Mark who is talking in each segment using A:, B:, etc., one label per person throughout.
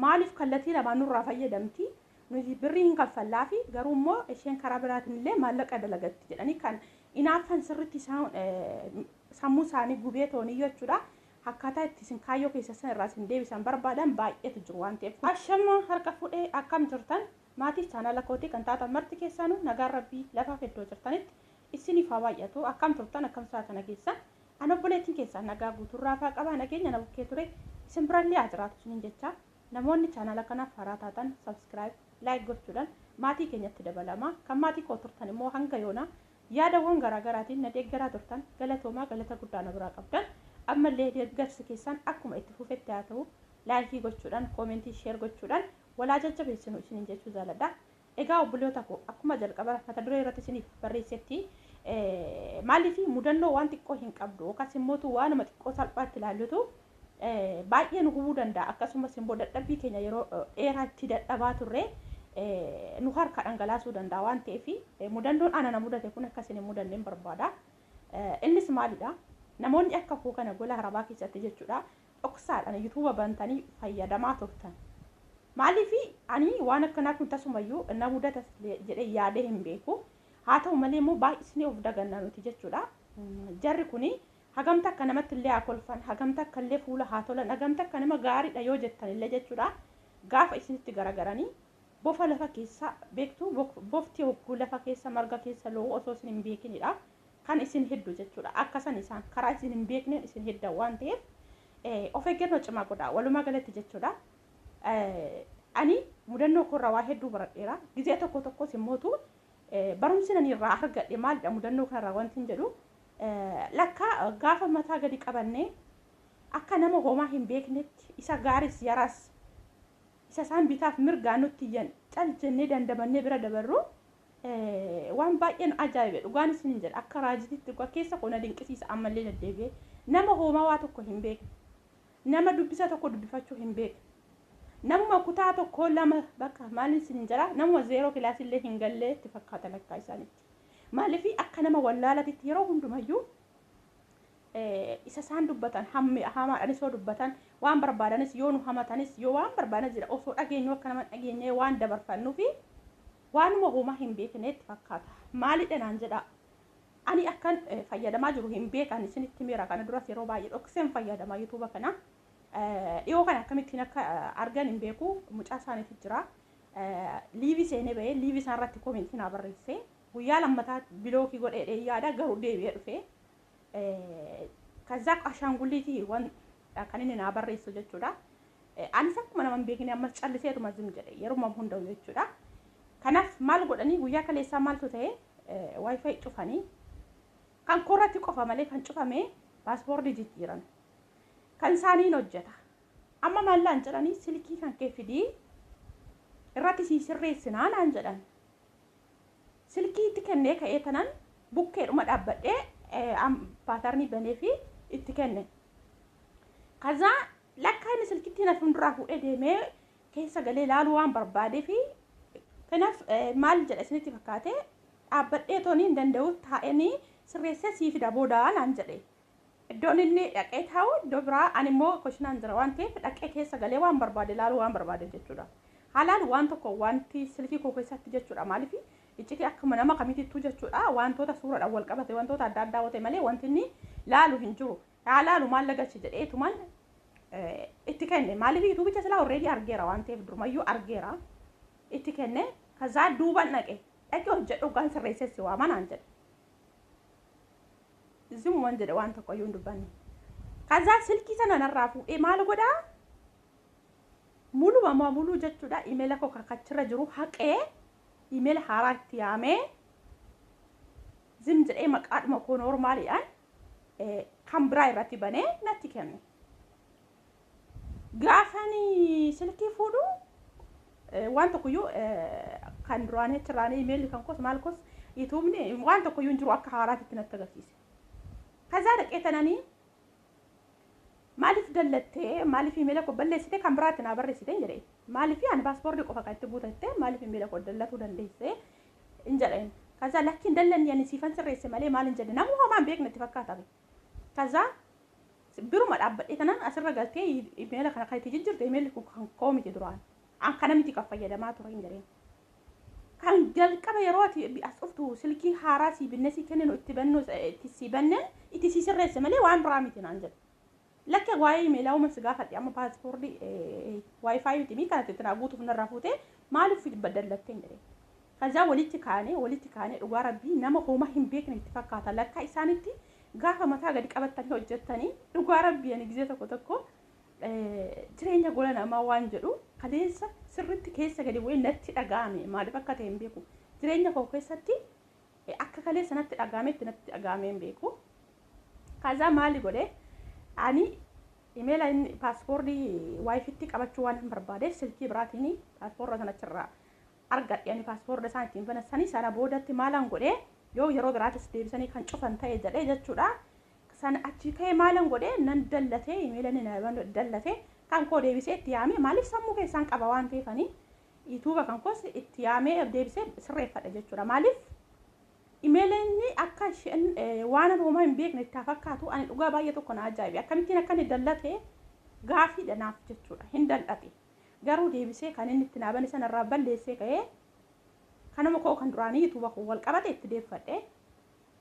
A: Maaliif kallatii lamaan nurraa fayyadamti, nuti birrii hin kaffallaafi garuu immoo isheen karaa biraatiin illee maallaqa dalagatti jedhanii kan inaaffan sirritti isaan sammuu isaanii gubee tooniyyuu jechuudha. Akkaataa itti isin kaayyoo keessa san irraa isin deebisan barbaadan baay'eetu jiru waan ta'eef. Ashama harka fuudhee akkam jirtan maatii chaanala kootii kan taatan marti keessaanuu nagaan rabbii lafaaf iddoo jirtanitti isiniif haa baay'atu akkam turtan akkam saatana keessan Ani obboleettiin keessaan nagaa guutuun raafaa qaba nageenyi ana bukkee ture isin birallee haa jiraatu isiniin jechaa namoonni chaanaala kanaaf haaraa taatan subscribe like gochuudhaan maatii keenyatti dabalamaa kan maatii koo turtan immoo hanga yoonaa yaadawwan garaa garaatiin na deeggaraa turtan galatoomaa galata guddaa na biraa qabdan ammallee deeggarsi keessaan akkuma itti fufetti haa ta'u laayikii gochuudhaan koomentii sheer gochuudhaan walaa jajjabeessinu isiniin jechuu jaaladha Egaa obboleyoota koo akkuma jalqabara mata duree irratti isiniif barreessetti maaliif mudannoo waan xiqqoo hin qabdu yookaas immootu waanuma xiqqoo salphaatti ilaallutu baay'ee nu hubuu danda'a akkasumas immoo dadhabbii keenya yeroo dheeraa itti dadhabaa turre nu harka dhangalaasuu danda'a waan ta'eef mudannoon ana na mudate kun akka isin hin mudanne hin barbaada. Innis maalidha? Namoonni akka koo kana gola harabaa keessatti jechuudha dhoksaadhan yutuba bantanii fayyadamaa turtan maaliifi ani waan akkanaa kun tasumayyuu na mudata jedhee yaadee hin beeku haa ta'u malee immoo baay'isnee of daganna nuti jechuudha jarri kuni hagam takka namatti illee haa kolfan hagam takka illee fuula haa tolan hagam takka nama gaariidha yoo jettan illee jechuudha gaafa isinitti garagaranii bofa lafa keessa beektu bofti hogguu lafa keessa marga keessa lo'u osoo isin hin beekinidha kan isin heddu jechuudha. Akka san isaan karaa isin hin beekneen isin heddan waan ta'eef of eeggannoo cimaa godhaa. Walumaa galatti jechuudha. Ani mudannoo koorraa waa hedduu baradheera. Gizee tokko tokkos immootu barumsi nani irraa argadhe maalidha mudannoo kanarraa wanti hin jedhu lakka gaafa mataa gadi qabannee akka nama homaa hin beeknetti isa gaaris yaras isa isaan bitaaf mirgaan nutti iyyan cal jennee dandamannee bira dabarru waan baay'ee nu ajaa'ibe dhugaan isin hin jedha akka raajititti dhugaa keessa koo na dinqisiisa ammallee daddeebi'ee nama hoomaa waa tokko hin beekne nama dubbisa tokko dubbifachuu hin beekne namuma kutaa tokko lama bakka maal isin hin jedha namuma zeeroo kilaasillee hin gallee itti fakkaata lakkaa isaanitti maaliif akka nama wallaalatitti yeroo hundumayyuu isa isaan dubbatan hamaadhanis yoo dubbatan waan barbaadanis yoo nu hamatanis yoo waan barbaadan jira osoo dhageenyu akka nama dhageenyee waan dabarfannuufi waanuma homaa hin beekneetti fakkaata maalidha naan jedha ani akkan fayyadamaa jiru hin beekan isinitti miira kana duras yeroo baay'ee dhokseen fayyadama yuutuuba kana dhiyoo kana akkamittiin akka argan hin beeku mucaa isaaniitu jira liivii seenee ba'ee liivii isaanirratti koomentii naa barreessee guyyaa lammataa bilookii godhee yaada garuu deebi'ee dhufee Kazzaaf ashaangulliitii waan kan inni naa barreessu jechuudha. Anis akkuma nama hin beekne ammas calliseetuma zim jedhe yeruma hunda'u jechuudha. Kanaaf maal godhanii guyyaa kaleessaa maaltu ta'e waayifaayi cufanii kan koorratti qofa malee kan cufame paaspoortii jijjiiran. Kan isaaniin hojjeta. Amma maallaan jedhanii silkii kan kee fidii irratti sii sirreessinaa naan jedhan. Silkii itti kennee ka'ee tanan bukkeedhuma dhaabbadhee paatarnii banee fi itti kenne. Kazaa lakkaa inni silkitti na fuulduraa fuudhee deemee keessa galee ilaaluu waan barbaadee fi kanaaf maal jedha isinitti fakkaate dhaabbadhee toonii hin danda'u taa'eenii sirreessee sii fida boodaa naan jedhe. Iddoon inni dhaqee taa'u iddoo biraa, ani immoo kushinaan jira waan ta'eef dhaqee keessa galee waan barbaade ilaaluu waan barbaadeef jechuudha. Haalaan waan tokko wanti silkii koo keessatti jechuudha maaliif iccitii akkuma nama kamiitittuu jechuudha wantoota suuraadhaan wal qabate wantoota adda addaa wate malee wanti inni laalu hin jiru. Haa laalu maal lagalche jedheetuman itti kenne maaliif yuutuubicha silaa horreedii argeera waan ta'eef durumayyuu argeera itti kenne kazaa duuban dhaqe dhaqee hojjedhu hoggaan sirreessee si waamanaan jedhe. Zim waan jedhe waan tokko iyyuu hin dubbanne. Kazaa silkii sana narraa fuudhee maal godhaa? Muluma maa muluu jechuudha imeela koo kakachirra jiru haqee imeela haaraa itti yaamee zim jedhee maqaadhuma koo noormaaliidhaan kan biraa irratti banee natti kenne. Gaafan silkii fuudhu waan tokkoyyuu kan duraanii achirraanii imeelli kan koos maal koos yutuubni waan tokkoyyuu hin jiru akka haaraatitti natti agarsiise. Kazaa dhaqee tananii maaliif dallattee maaliif imeela koo balleessite kan biraatti naa barreessite hin jedheen. Maaliif ani paaspoortii qofa kan itti guutatte maaliif imeela koo dallatuu dandeesse hin jedheen. Kazaa lakkiin dallanni ani siifan sirreesse malee maal hin jedhe namuu homaa hin beekne itti fakkaata. Kazaa biruma dhaabbadhee tanaan asirra galtee imeela kana kan itti jijjirte imeelli kun kan koo miti duraan. An kana miti kan fayyadamaa ture hin jedheen. Kan jalqaba yeroo ati as dhuftu silkii haaraa sii binnee sii kenninu itti bannu itti sii banneen itti sii sirreesse malee waan biraa miti naan jedhe. Lakke waa'ee imeelaa uuman si gaafadhe amma paaspoordi waayifaayi miti mii kanatti tinaa guutuuf narraa fuutee maaliif dallattee jedhee. Kazaa walitti kaanee walitti kaanee dhugaa rabbii nama homaa hin beekne itti fakkaata lakkaa isaanitti gaafa mataa gadi qabattanii hojjettanii dhugaa rabbii ani gizee tokko tokko jireenya gola namaa waan jedhu kaleessa sirritti keessa gadi bu'ee natti dhaga'ame maaliif akka ta'e hin beeku jireenya koo keessatti Akka kaleessa natti dhaga'ametti natti dhaga'amee hin beeku. Kazaa maali godhe ani imeela inni paaspoortii waayifitti qabachuu waan hin barbaadeef silkii biraatiin paaspoortii sana achirraa argadhe ani paaspoortii isaan ittiin banan sanii sana boodatti maalan godhe yoo yeroo biraatis deebisanii kan cufan ta'e jedhee jechuudha. Sana achii ka'ee maalan godhe nan dallatee imeela inni na dallate kan koo deebisee itti yaamee maaliif sammuu keessaan qaba waan ta'eefanii Yuutuuba kan koos itti yaamee deebisee sirreeffadha jechuudha. Maaliif imeeleenni akka isheen waan ani homaa hin beekne itti fakkaatu ani dhugaa baay'ee tokko na ajaa'ibe. Akkamittiin akka inni dallate gaafiidha naaf jechuudha. Hin dallate. Garuu deebisee kan inni itti naabane sanarraa balleessee ka'ee kanuma koo kan duraanii yuutuuba koo wal qabate itti deeffadhe.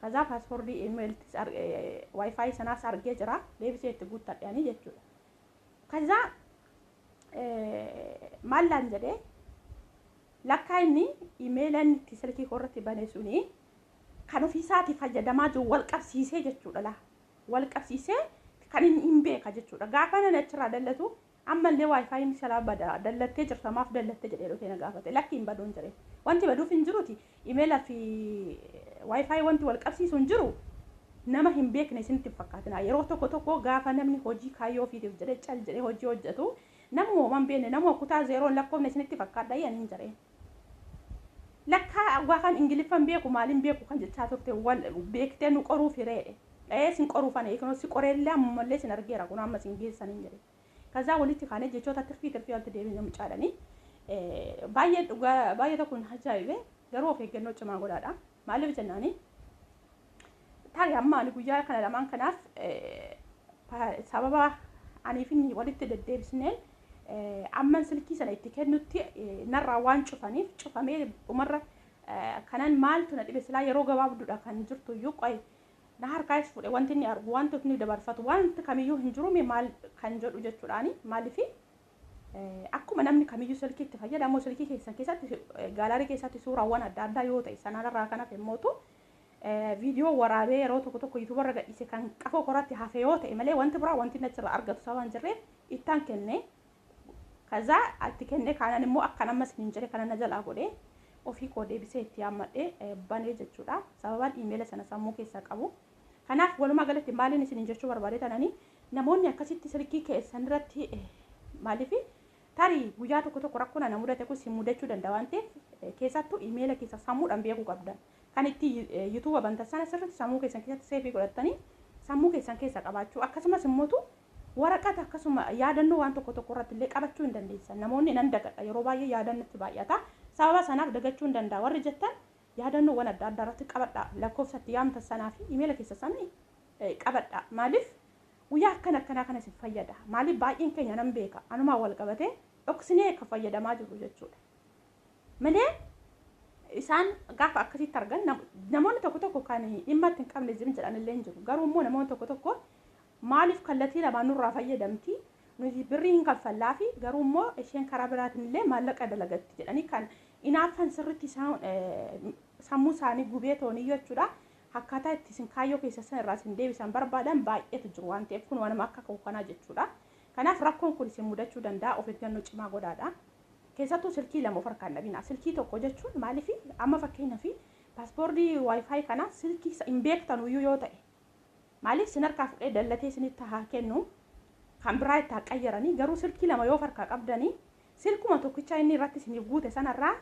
A: Kazaa paaspoortii imeeltis waayifaayi sanaas argee jira. Deebisee itti guuttadhe ani jechuudha. Kazaa maal naan jedhe lakkaa inni imeela inni itti silkii koo irratti bane suni kan ofiisaati fayyadamaa jiru wal qabsiisee jechuudha laa wal qabsiisee kan inni hin beeka jechuudha gaafa nan achirraa dallatu ammallee waayifaayiin shalaa bada dallattee jirta maaf dallatte jedhee dhufee na gaafate lakki hin baduun jedhe wanti baduuf hin jiruti Imeela fi wifi wanti wal qabsiisu hin jiru. Nama hin beekne isinitti hin fakkaatina. Yeroo tokko tokko gaafa namni hojii kaayyoo ofiitiif jedhee cal jedhee hojii hojjetu namuma homaa hin beekne namuma kutaa zeeroon lakkoofne isinitti fakkaadha iyya niin jedhee. Lakkaa waa kan Ingiliffa hin beeku maaliin beeku kan jechaa turte wal beektee nu qoruuf hireedhe. Ee sin qoruuf ani eegnoo si qoreellee ammallee sin argeera kun amma sin geessaniin jedhee. Kazaa walitti kaanee jechoota tirfii tirfii walitti deebine mucaadhani. Baay'ee dhugaa baay'ee tokko na ajaa'ibe garuu of eeggannoo cimaa godhaadha. Maaliif jennaani? Taari amma ani guyyaa kana lamaan kanaaf sababa aniif inni walitti deddeebisneen amman silkii sana itti kennutti narraa waan cufaniif cufamee dhumarra kanan maaltu na dhibe silaa yeroo gabaabduudha kan jirtu iyyuu qo'e na harkaayis fudhe wanti inni argu wanti inni dabarfatu wanti kamiyyuu hin jiru mee maal kan jedhu jechuudhaani maaliif akkuma namni kamiyyuu silkii itti fayyadamu silkii keessan keessatti gaalaarii keessatti suuraawwan adda addaa yoo ta'e sanarraa kan hafe mootu viidiyoo waraabee yeroo tokko tokko yuutuubarra gadhiise kan qafoo koratti hafe yoo ta'e malee wanti biraa wanti inni achirraa argatu sababa hin jirreef ittaan kenne Kazaa itti kennee kaanaan immoo akkan ammas hin jire kana na jalaa godhee ofii koo deebisee itti yaammadhee banee jechuudha. Sababaan iimeela sana sammuu keessaa qabu. Kanaaf walumaa galatti maaliin isin jechuu barbaadee tananii namoonni akkasitti silkii keessan irratti maaliif tarii guyyaa tokko tokko rakkoon ana mudate kun si mudachuu danda'a waan ta'eef keessattuu iimeela keessa sammuudhaan beekuu qabdan. Kan itti YouTube bantan sana sirriitti sammuu keessan keessatti seevii godhattanii sammuu keessan keessa qabaachuu akkasumas immoo waraqata akkasuma yaadannoo waan tokko tokko irratti illee qabachuu hin dandeessan. Namoonni nan dagadha yeroo baay'ee yaadaan natti baay'ata. Sababa sanaaf dagachuu hin danda'a warri jettan yaadannoowwan adda addaa irratti qabadhaa. Lakkoofsa itti yaamtan sanaa fi imeela keessa sana qabadhaa. Maaliif guyyaa akkana akkanaa kana isin fayyada. Maaliif baay'een keenya nan beeka anumaan wal qabatee dhoksinee akka fayyadamaa jirru jechuudha. malee isaan gaafa akkasitti argan nam- namoonni tokko tokko kan dhimma itti hin qabne zim jedhan illee hin jiru garuu immoo namoonni tokko tokko maaliif kallattii lamaan nurraa fayyadamti nuti birrii hin kaffallaa fi garuu immoo isheen karaa biraatiin illee maallaqa dalagatti jedhanii kan inaaffan sirritti isaan eh, sammuu isaanii gubee toonii jechuudha akkaataa itti isin kaayyoo keessa san irraa isin deebisan barbaadan baay'eetu jiru waan ta'eef kun waanuma akka koo kanaa jechuudha kanaaf rakkoon kun isin mudachuu danda'a of eeggannoo cimaa godhaadha Keessattuu silkii lama of harkaa hin dhabinaa. Silkii tokko jechuun maaliif amma fakkeenyaaf paaspoortii wifi kana silkii hin beektanu iyyuu yoo ta'e maaliif sin harkaa fudhee dallatee sinitti haa kennu kan biraa itti haa qayyaranii garuu silkii lama yoo of harkaa qabdanii silkuma tokkicha inni irratti isiniif guute sanarraa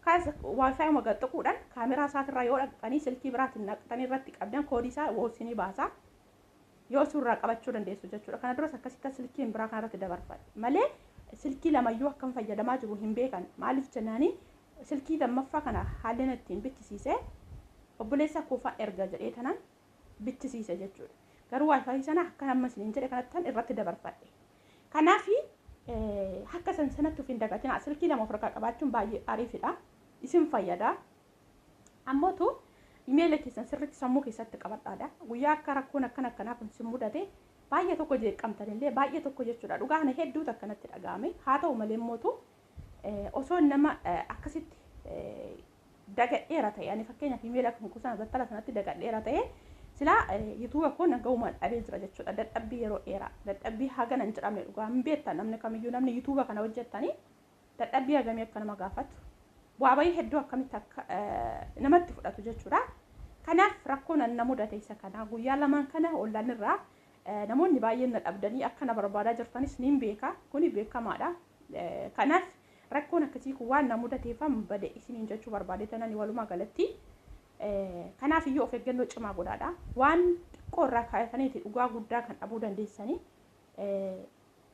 A: kaas wifi uma gaxxaquudhaan kaameraa isaatirraa yoo dhaqxanii silkii biraatiin naqxanii irratti qabdan koodii isaa isinii baasaa. yoo isu irraa qabachuu dandeessu jechuudha kana duras akkasi akka silkiin biraa kana irratti dabarfadhe malee silkii lamayyuu akkam fayyadamaa jiru hin beekan maaliif jennaani silkii lammaffaa kana haalli inni ittiin bichisiise obboleessa koofaan erga jedhee tanan bichisiise jechuudha garuu waayifaayi sana akka amma isiniin jedhe kanattan irratti dabarfadhe kanaaf akka san sanatti of hin dagatinaa silkii lama of harkaa qabaachuun baay'ee ariifidha isin fayyada Ammootu imeela keessan sirriitti sammuu keessatti qabadhaadha. Guyyaa akka rakkoon akkana akkanaa kun sin mudate baay'ee tokko jeeqqamtan illee baay'ee tokko jechuudha. Dhugaa kana hedduutu akkanatti dhaga'ame. Haa ta'u malee immootu osoo nama akkasitti dagadheera ta'e ani fakkeenyaaf imeela kan kuusan battala sanatti dagadheera ta'e silaa yutuuba koo naga'umaan dhabee jira jechuudha. Dadhabbii yeroo dheeraa dadhabbii hagana hin jedhamne dhugaa hin beektan namni kamiyyuu namni yutuuba kana hojjettanii dadhabbii hagamii akka nama gaafatu, bu'aa bahii hedduu akkamitti akka namatti fudhatu jechuudha. Kanaaf rakkoon an na mudate isa kana. Guyyaa lamaan kana ollaan irraa namoonni baay'een na dhabdanii akka na barbaadaa jirtanis niin beeka. Kuni beekamaadha. Kanaaf rakkoon akkasii kun waan na mudateefan bade isiniin jechuu barbaade tanani walumaa galatti. Kanaaf iyyuu of eeggannoo cimaa godhaadha. Waan xiqqoo irraa kaayataniiti dhugaa guddaa kan dhabuu dandeessanii.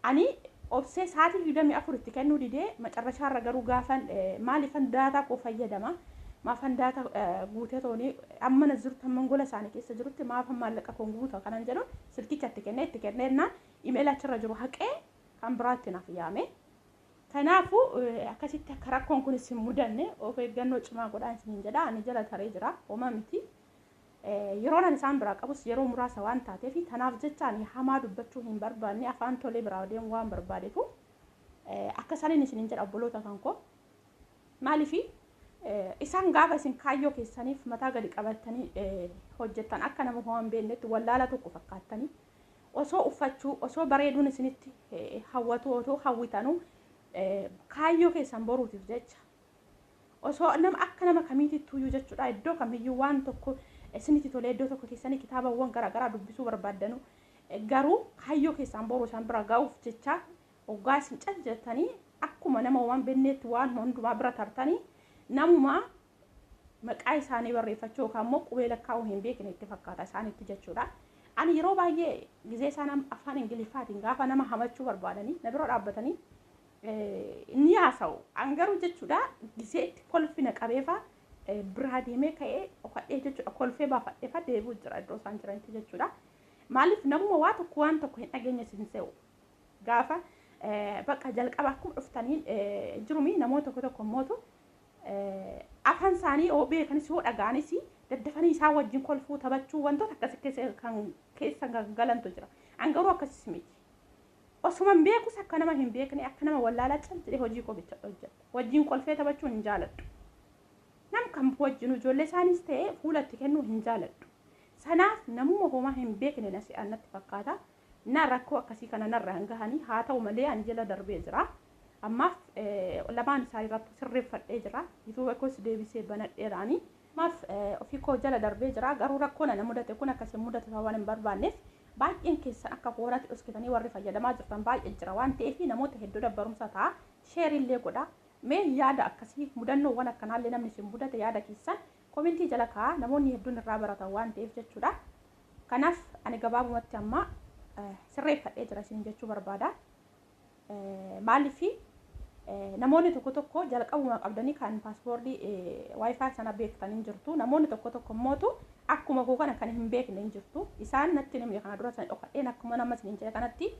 A: Ani obsee saatii 24 itti kennuu didee macarrashaa irra garuu gaafan maalifan daataa koo fayyadama maafan daata guutee toonii amma na jirtu amma gola isaanii keessa jirutti maafan maallaqa koon guuta kanan jedhu silkicha itti kennee itti kennee jennaan imeela achirra jiru haqee kan biraatti naaf yaame. Kanaafuu akkasitti akka rakkoon kun isin mudanne of eeggannoo cimaa godhaan isiniin jedha ani jala taree jira homa miti Yeroon ani isaan biraa qabus yeroo muraasa waan taateef, tanaaf jecha ani hamaa dubbachuu hin barbaanne, afaan tolee biraa deemuu waan barbaadeefu, akka saniin isiniin jedha obboloota kan koo. Maaliif? Isaan gaafa isin kaayyoo keessaniif mataa gadi qabattanii hojjettan akka nama ho'aan beennetti wallaala tokko fakkaattanii osoo uffachuu osoo bareeduun isinitti hawwatu otoo hawwitanu kaayyoo keessan boruutiif jecha Osoo nama akka nama kamiitittuuyyuu jechuudha iddoo kamiyyuu waan tokko isinitti tolee iddoo tokko teessanii kitaabawwan garaa garaa dubbisuu barbaaddanu garuu kaayyoo keessaan boru isaan bira ga'uuf jecha oggaa isin cal jettanii akkuma nama waan benneetti waan hundumaa bira tartanii namuma maqaa isaanii barreeffachuu yookaan immoo qubee lakkaa'uu hin beekne itti fakkaata isaanitti jechuudha. Ani yeroo baay'ee gizee isaan afaan Ingiliffaatiin gaafa nama hamachuu barbaadanii na bira dhaabbatanii ni haasa'u. An garuu jechuudha gisee itti kolfi na qabeefa biraa deemee ka'ee dhokadhee jechuudha kolfee baafadheefa deebi'u jira iddoo isaan jiranitti jechuudha. Maaliif namuma waa tokko waan tokko hin dhageenye sin se'u. Gaafa bakka jalqaba akkuma dhuftaniin jirumi namoota tokko tokko mootu afaan isaanii yoo beekanis yoo dhaga'anis daddafanii isaa wajjin kolfuu taphachuu wantoota akkasii keessa kan keessa galantu jira. An garuu akkasii miti. Osuman beekus akka nama hin beeknee akka nama wallaalaa call jedhee hojii koo bichadha hojjedha. Wajjin kolfee taphachuu hin jaaladhu. Nam kam wajjinu ijoollee isaaniis ta'ee fuula itti kennuu hin jaaladhu. Sanaaf namuma homaa hin beekne na se'an natti fakkaata. Na rakkoo akkasii kana narraan gahanii haa ta'u malee ani jala darbee jira. Ammaaf lamaan isaaniirrattuu sirreeffadhee jira. Yutuuba koos deebisee banadheeraanii. Maaf ofii koo jala darbee jira garuu rakkoon ana mudate kun akka isin mudatu sababa hin barbaanneef baay'een keessan akka koorati dhoskitanii warri fayyadamaa jirtan baay'ee jira waan ta'eef namoota hedduudhaaf barumsa ta'a share illee godha mee yaada akkasii mudannoowwan akkanaallee namni isin mudate yaada keessan komentii jala kaa'a namoonni hedduun irraa baratan waan ta'eef jechuudha kanaaf ani gabaabumatti amma sirreeffadhee jira isin jechuu barbaada Maaliif namoonni tokko tokko jalqabuma qabdanii kan paaspoortii waayifaa sana beektan hin jirtu. Namoonni tokko tokko immootu akkuma koo kana kan hin beekne hin jirtu. Isaan natti hin himne kana dura sana dhokadheen akkuma nama isiniin jedhe kanatti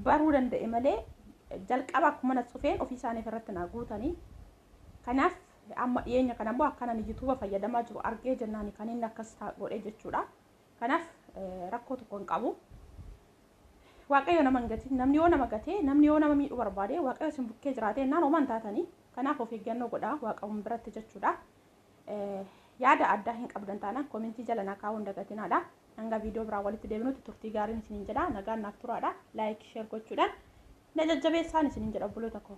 A: baruu danda'e malee jalqaba akkuma na cufeen ofii isaaniif irratti naa guutanii. Kanaaf amma dhiyeenya kana immoo akka nani yuutuuba fayyadamaa jiru argee jennaan kan inni akkas godhe jechuudha. Kanaaf rakkoo tokko hin qabu. Waaqayyo nama hin gatin. Namni yoo nama gatee, namni yoo nama miidhuu barbaade, Waaqayyo isin bukkee jiraatee ennaan homaa hin taatani. Kanaaf of eeggannoo godhaa Waaqayyoon biratti jechuudha. Yaada addaa hin qabdan taanaan komentii jala naa kaa'uu hin dagatinaadha. Hanga viidiyoo biraa walitti deebinutti turtii gaariin isiniin jedha. Nagaan naaf turaadha. Laayik, sheer gochuudhaan na jajjabeessaan isiniin jedha obboloota koo.